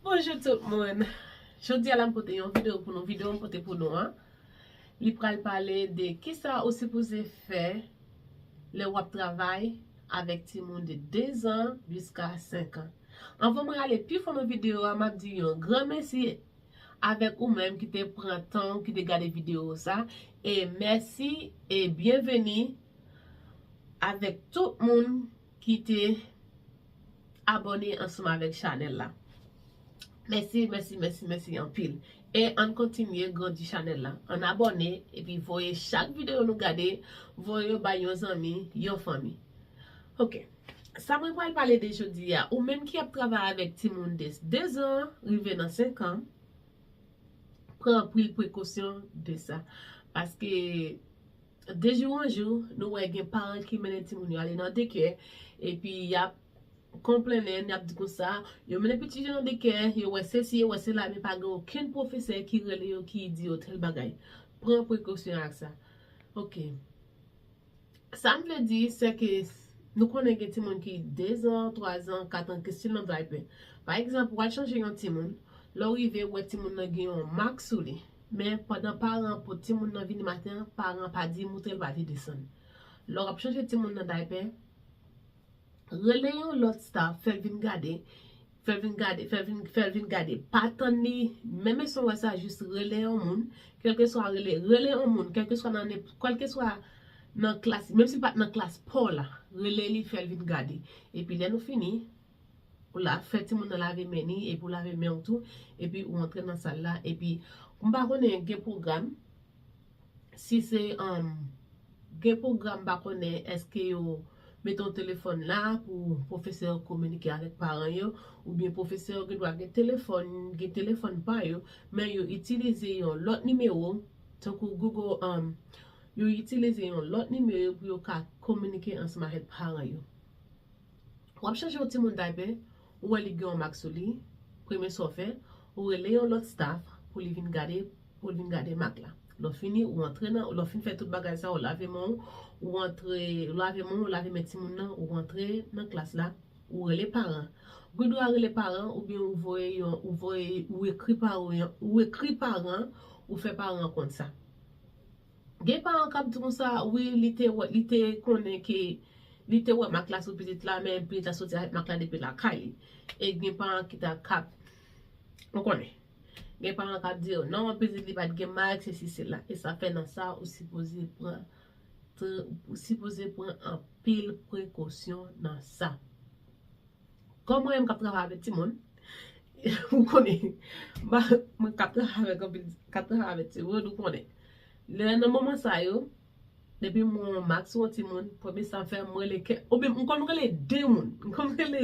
Bonjou tout moun, jodi a la m pote yon video pou nou, video m pote pou nou an li pral pale de kisa ou sipoze fè lè wap travay avèk timoun de 2 zan jiska 5 an. Anvan mwen ale pi fon nan video a map di yon gran mèsi avèk ou menm ki te pran tan ou ki te gade video sa e mèsi e byenveni avèk tout moun. Kite abone ansanm avek chanel la. Mèsi mèsi mèsi mèsi anpil. E ann kontinye grandi chanel la. Ann abone epi voye chak video nou gade voye yo bay yon zanmi yon fanmi. Ok. Sa mwen pral pale de jodi a. Ou menm ki ap travay avek timoun de 2 zan rive nan 5 an. Pran anpil prekosyon de sa. Paske. De jou an jou, nou wè gen paran ki mennen timoun yo ale nan dekè, epi y ap konplennen, y ap di konsa, yo mennen pitit yo nan dekè, yo wè sesi, yo wè sela, men pa gen okenn pwofesè ki rele yo, ki di yo tèl bagay. Pran prekosyon ak sa. Ok. Sa m vle di, se ke nou konnen gen timoun ki dezan, twazan, katan, ki stil nan daypè. Pa egzanp, ou al chanje yon timoun, lè w rive, ou wè timoun nan gen yon mak sou li. Men, pandan paran an pot timoun nan vini maten an, paran an pa di moutre l pa te desann. Lè w ap chanje timoun nan daypè, rele yon lòt staf, fè l vin gade, fè l vin gade, fè l vin gade. Pa tann li, menm èske w wè sa, jis rele yon moun, kèlkeswa rele, rele yon moun, kèlkeswa nan nenpò, kèlkeswa nan klas, menm si l pa t nan klas pa w la, rele li, fè l vin gade. Epi lè nou fini, Ou la fè timoun nan lave men ni epi ou lave men ou tou epi ou antre nan sal la epi m pa konnen gen pwogram si se gen pwogram m pa konnen eske yo mete yon telefòn la pou pwofesè yo kominike avèk paran yo oubyen pwofesè yo gen dwa gen telefòn gen telefòn pa yo men yo itilize yon lòt nimewo tankou Google yo itilize yon lòt nimewo pou yo ka kominike ansanm avèk paran yo. Wap chèche yon timoun taypè ou wè li gen yon mak sou li, premye sa w fè, ou rele yon lòt staff pou li vin gade, pou l vin gade mak la. Lè w fini ou antre nan, lè w fin fè tout bagay sa yo, ou lave men w, ou antre, ou lave men w, ou lave men timoun nan, ou antre nan klas la, ou rele paran. Ou gen dwa rele paran oubyen ou voye yon, ou voye, ou ekri paran, ou ekri paran, ou fè paran konn sa. Gen paran kap di konsa wi li te wè li te konnen ke li te wè mak la sou pitit la men pitit la soti avèk mak la depi lakay li e gen paran ki ta kap ou konnen gen paran kap di yo non pitit li pat gen mak se si se la e sa fè nan sa ou sipoze pran ou sipoze pran anpil prekosyon nan sa. Kòm mwen menm k ap travay avèk timoun, ou konnen, mwen k ap travay avèk anpil, k ap travay avèk timoun, ou konnen. Lè nan moman sa yo, depi m wè yon mak sou yon timoun, premye sa m fè, m rele kè, oubyen m konn rele de moun, m konn rele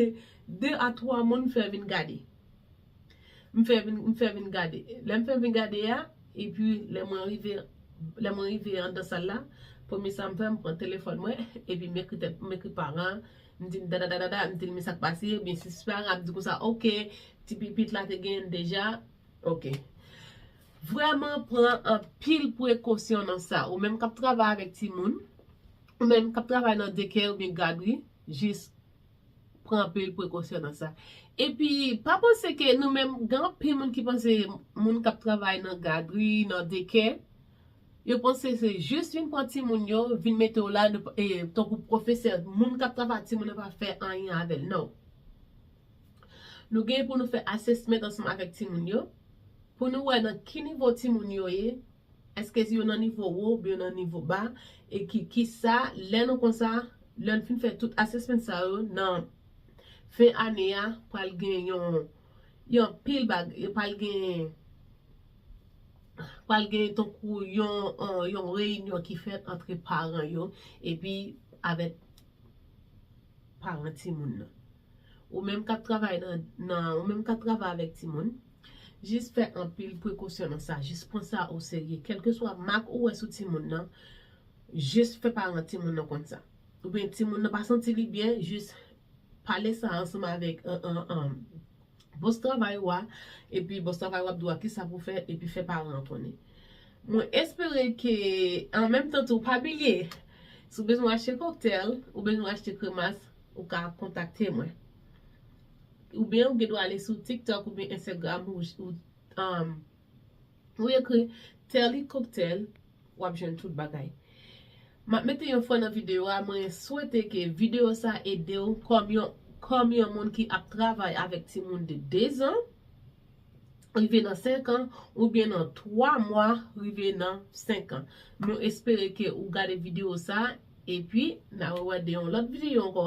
de a twa moun m fè vin gade. M fè vin, m fè vin gade. Lè m fè vin gade a, epi lè mwen rive, lè mwen rive anndan sal la, premye sa m fè, m pran telefòn mwen, epi m ekri tèt, m ekri paran an. M di m dadadadada, m di l men sa k pase, ebyen si se pa rap di konsa ok, ti pipit la te genyen l deja, ok. Vrèman pran anpil prekosyon nan sa, ou menm k ap travay avèk timoun, ou menm k ap travay nan dekè oubyen gadri, jis pran anpil prekosyon nan sa. Epi pa panse ke nou menm, gen anpil moun ki panse moun k ap travay nan gadri, nan dekè, Yo panse se jis vin pran timoun yo, vin mete w la tankou pwofesè, moun k ap travay ak timoun nan pa fè anyen avè l. Non. Nou gen pou nou fè assessment ansanm avèk timoun yo pou nou wè nan ki nivo timoun yo ye, èske yo nan nivo wo oubyen yo nan nivo ba e ki sa lè nou konsa, lè nou fin fè tout assessment sa yo nan fen ane a pral gen yon pil bagay, pral gen pral gen tankou yon reyinyon ki fèt antre paran yo epi avèk paran timoun nan. Ou menm k ap travay nan, ou menm k ap travay avèk timoun, jis fè anpil prekosyon nan sa, jis pran sa oserye. Kèlkeswa mak ou wè sou timoun nan, jis fè paran timoun nan konn sa. Oubyen timoun nan pa santi li byen, jis pale sa ansanm avèk Boss travay ou a epi boss travay wap dou a kisa pou fè epi fè paran an konnen. Mwen espere ke an menm tan tou pa bilye si w bezwen achte cocktail ou bezwen achte kremas ou ka kontakte mwen. Ou byen ou gen dwa ale sou tiktok ou byen ensegram ou Ou ekri Telly cocktail wap jwenn tout bagay. Map mete yon fre nan video a mwen swete ke video sa edew kom yon kom yon moun ki ap travay avek timoun de 2 zan rive nan 5 an ou byen nan 3 mwa rive nan 5 an. Nou espere ke ou gade video sa epi na rewè de yon lot video anko.